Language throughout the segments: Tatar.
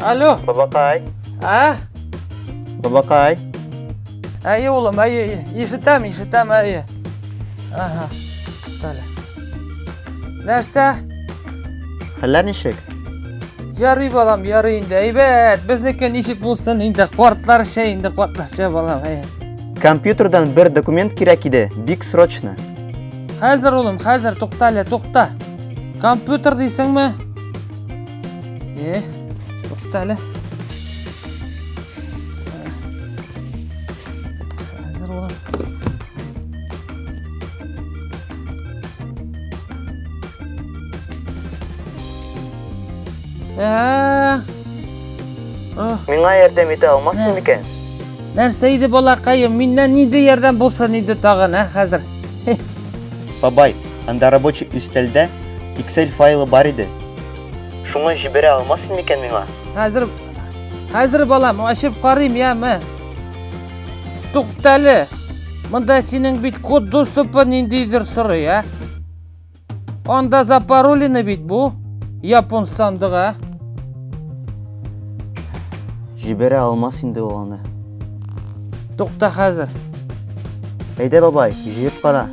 Алло. Бабакай. А? Бабакай. Әйе, улым, әйе, ишетәм, ишетәм, әйе. Ага. Далее. Нәрсә? Хәлләр ничек? Ярый балам, ярый инде. Әйбәт, безнеке ничек булсын инде, картларча инде, картларча балам. Әй. Компьютердан бер документ кирәк иде, бик срочно. Хәзер улым, хәзер тукта әле, тукта. Компьютер дисеңме? Э, тукта әле. Ә, о, Миңа ярдәм итә алмассың микән? Нәрсә иде балакаем, миннән нинди ярдәм булсын иде тагын, ә хәзер? Бабай, анда рабочий өстәлдә Excel файлы бар иде. Шуңа җибәрә алмассың микән миңа? Хәзер, хәзер балам, ачып карыйм, яме. Туктале! Монда синең бит код доступы ниндидер сорый, ә? Анда запаролины бит бу, япон сандыга. Җибәрә алмас инде ул аны. Тукта хәзер. Әйдә, бабай, җыеп кара.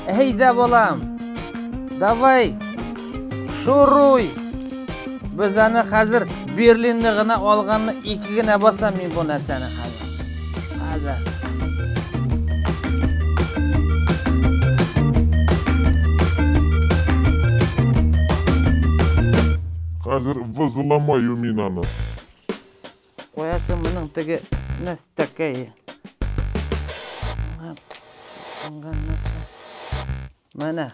Әйдә, балам. Давай, Шуруй! Без аны хәзер Берлинны гына алганны ике генә басам мин бу нәрсәне хәзер. Хәзер. Хәзер вызламаю мин аны. Куясың моның теге нәстәкәй. Менә.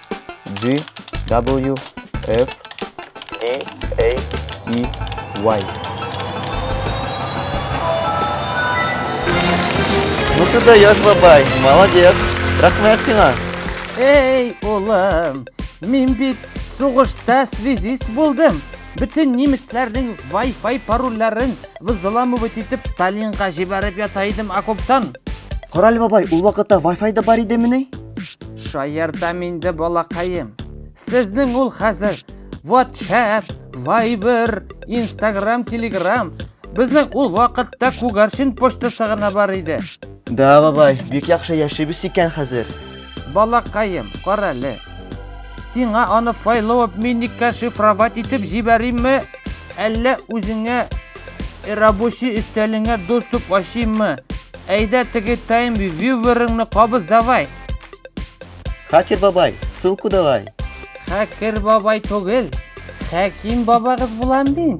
G W F D A E Y. Ну ты даешь, бабай, молодец. Рахмет сиңа. Эй, улым, мин бит сугышта связист булдым. Бөтен немецләрнең Wi-Fi парольләрен взламывать итеп Сталинга җибәреп ята идем окоптан. Кораль бабай, ул вакытта Wi-Fi да бар идемени? Шаяртам инде, балакаем. Сезнең ул хәзер WhatsApp, Viber, Instagram, Telegram. Безнең ул вакытта күгәрчен почтасы гына бар иде. Да, бабай, бик яхшы яшибез икән хәзер. Балакаем, карале. Сиңа аны файлап миникка шифровать итеп җибәримме? Әллә үзеңә Рабочий өстәлеңә доступ ачыйммы? Әйдә теге тайм вьюверыңны кабыз давай. Хакер бабай, ссылку давай. Хакер бабай түгел. Хәким бабагыз булам мин.